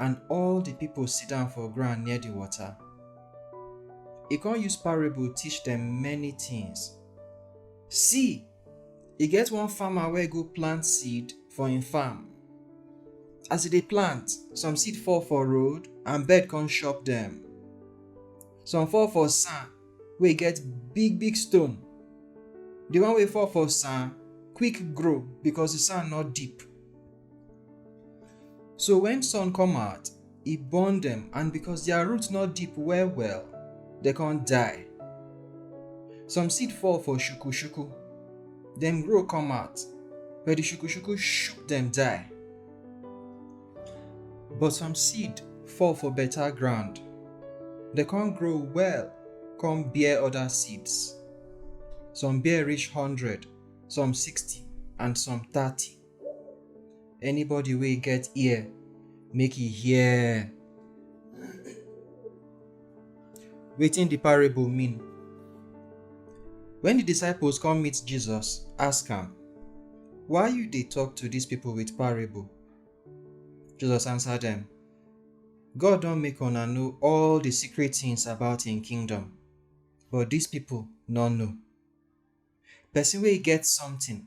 and all di pipo sit down for ground near di water. E con use parable teach dem many tins. See! E get one farmer wey go plant seed for im farm. As e dey plant, some seed fall for road and bird con chop dem. Some fall for sand wey get big big stone. Di one wey fall for sand quick grow because di sand no deep. So when sun come out, e burn them, and because their roots not deep well well, they can't die. Some seed fall for shuku shuku, them grow come out, but the shuku shuku shook them die. But some seed fall for better ground, they can't grow well, come bear other seeds. Some bear reach hundred, some sixty, and some thirty. Anybody wey get ear, make e hear. Wetin the parable mean? When the disciples come meet Jesus, ask am, Why you dey talk to these people with parable? Jesus answer them, God don make una know all the secret things about im kingdom, but these people no know. Person wey get something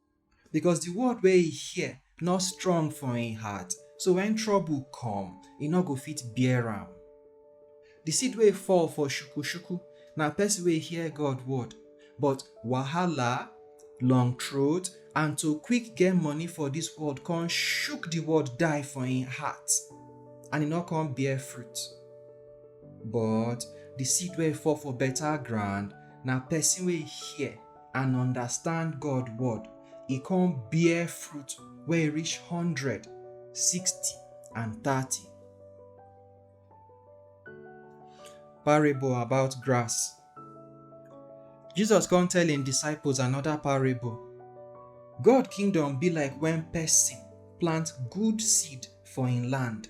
Because the word wey e hear no strong for im heart, so when trouble come, e no go fit bear am. The seed wey fall for shuku-shuku na person wey hear God word, but wahala, long throat, and to quick get money for this world come shook the word die for im heart, and e no come bear fruit. But the seed wey fall for better ground na person wey hear, and understand God word, e come bear fruit wey reach hundred, sixty and thirty. Parable about grass. Jesus come tell im disciples another parable. God kingdom be like when person plant good seed for im land.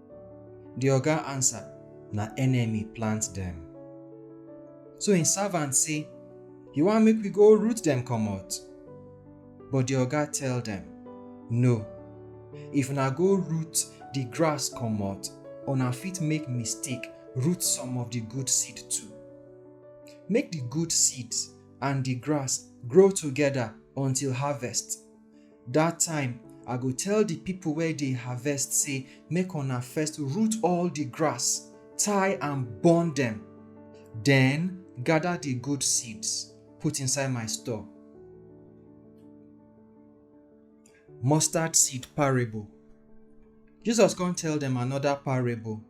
Di oga ansa, Na enemy plant dem. So im savant sey, Yu wan make wi go root dem komot? But di oga tell dem, No, if una go root di grass komot, una fit make mistake root some of di good seed too. Make di good seeds and di grass grow togeda until harvest. Dat time, I go tell di pipo wey dey harvest sey make una first root all di grass, tie and burn dem. Den, gada di good seeds, put inside my store. Mustard seed parable. Jesus kon tell dem anoda parable.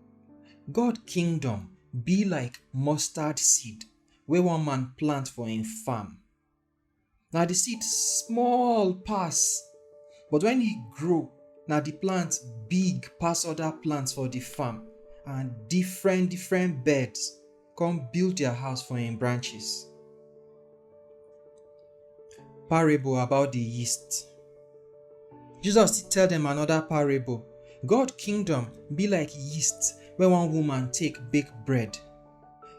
God kingdom be like mustard seed wey one man plant for im farm. na the seed small pass but when e grow na the plant big pass other plants for the farm and different different birds come build their house for im branches. Parable about the yeast. Jesus tell them another parable. God kingdom be like yeast wey one woman take bake bread.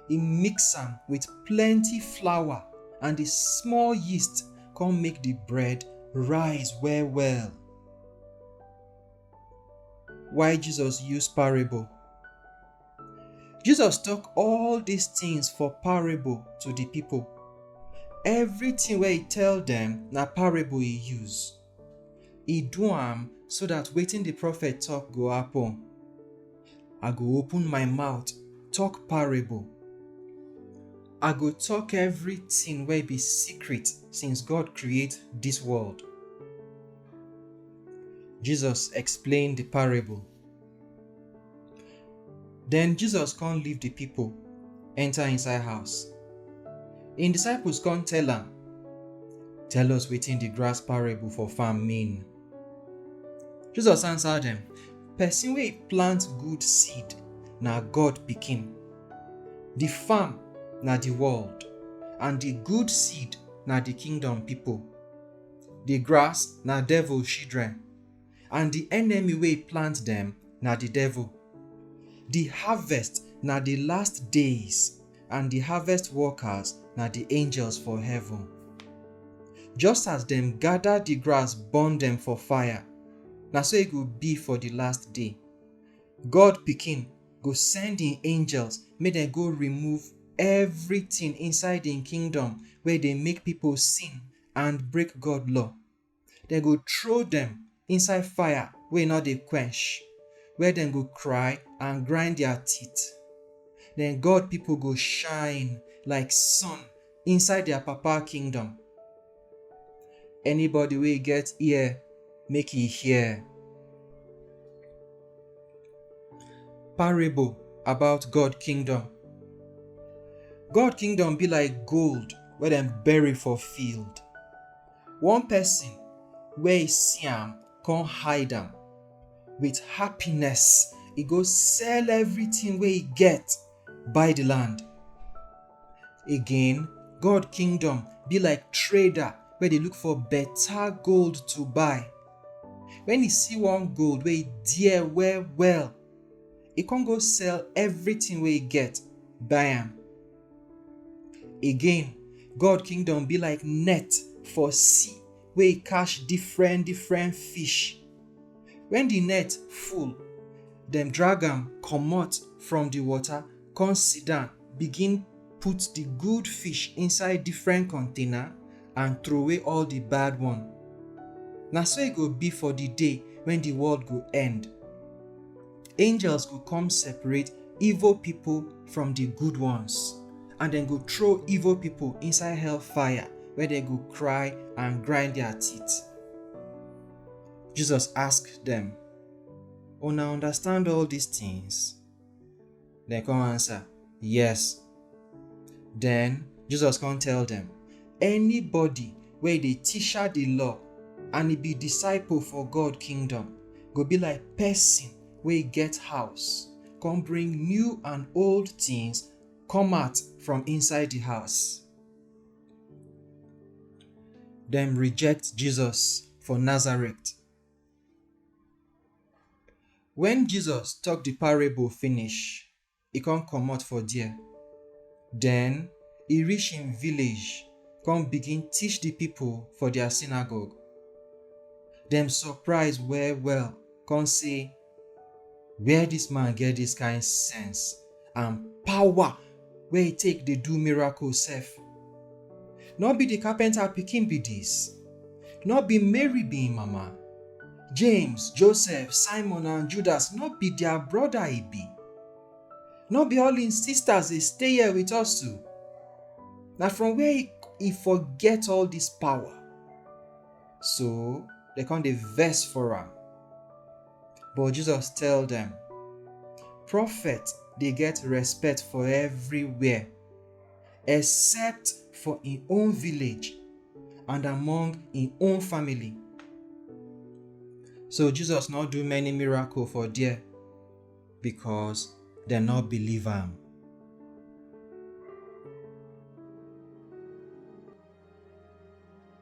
He mix am with plenty flour and the small yeast come make the bread rise well well. Why Jesus use parable? Jesus talk all these things for parable to the people. Everything wey he tell them na parable he use. E do am so that wetin the prophet talk go happen. I go open my mouth, talk parable. I go talk everything wey be secret since God create this world. Jesus explain the parable. Then Jesus come leave the people, enter inside house. Im disciples come tell am, Tell us wetin the grass parable for farm mean. Jesus answer dem, Person wey plant good seed na God pikin. The farm na the world, and the good seed na the kingdom people. The grass na devil children. and di enemy wey plant dem na di devil. Di harvest na di last days and di harvest workers na di angels for heaven. Just as dem gada di grass burn dem for fire, na so e go be for di last day. God Pikin go send im angels make dem go remove everytin inside im kingdom wey dey make pipo sin and break God law. Dem go throw dem inside fire wey no dey quench, where dem go cry and grind their teeth. Then God people go shine like sun inside their Papa kingdom. Anybody wey get ear, make e hear. Parable about God kingdom. God kingdom be like gold wey dem bury for field. One person wey e see am come hide am, with happiness e go sell everything wey e get buy the land. Again, God kingdom be like trader wey dey look for better gold to buy. When e see one gold wey e dear well well, e come go sell everything wey e get buy am. Again, God kingdom be like net for sea wey e catch different different fish. When the net full, dem drag am comot from the water come sit down begin put the good fish inside different container and throway all the bad one. Na so e go be for the day when the world go end. Angels go come separate evil people from the good ones, and then go throw evil people inside hellfire where they go cry and grind their teeth. Jesus asked them, Una understand all these things? Dem come answer, Yes. Den Jesus come tell dem, Anybody wey dey teacher di law and e be disciple for God kingdom go be like pesin wey get house come bring new and old tins come out from inside di house. Dem reject Jesus for Nazareth. Wen Jesus tok di parable finish, e kon komot for der. Den, e rish im village kon bigin tish di pipol for dia sinagog. Dem sopraiz well-well kon sey, Where dis man get dis kain sense? and power wey he take dey do miracle sef. No be the carpenter pikin be this? No be Mary be him mama? James, Joseph, Simon and Judas no be their brother he be? No be all him sisters dey stay here with us too? Na from where he, he for get all this power? So, they come dey vex for am. But Jesus tell dem, Prophet dey get respect for everywhere, except for im own village and among im own family. So Jesus no do many miracle for there because dem no believe am.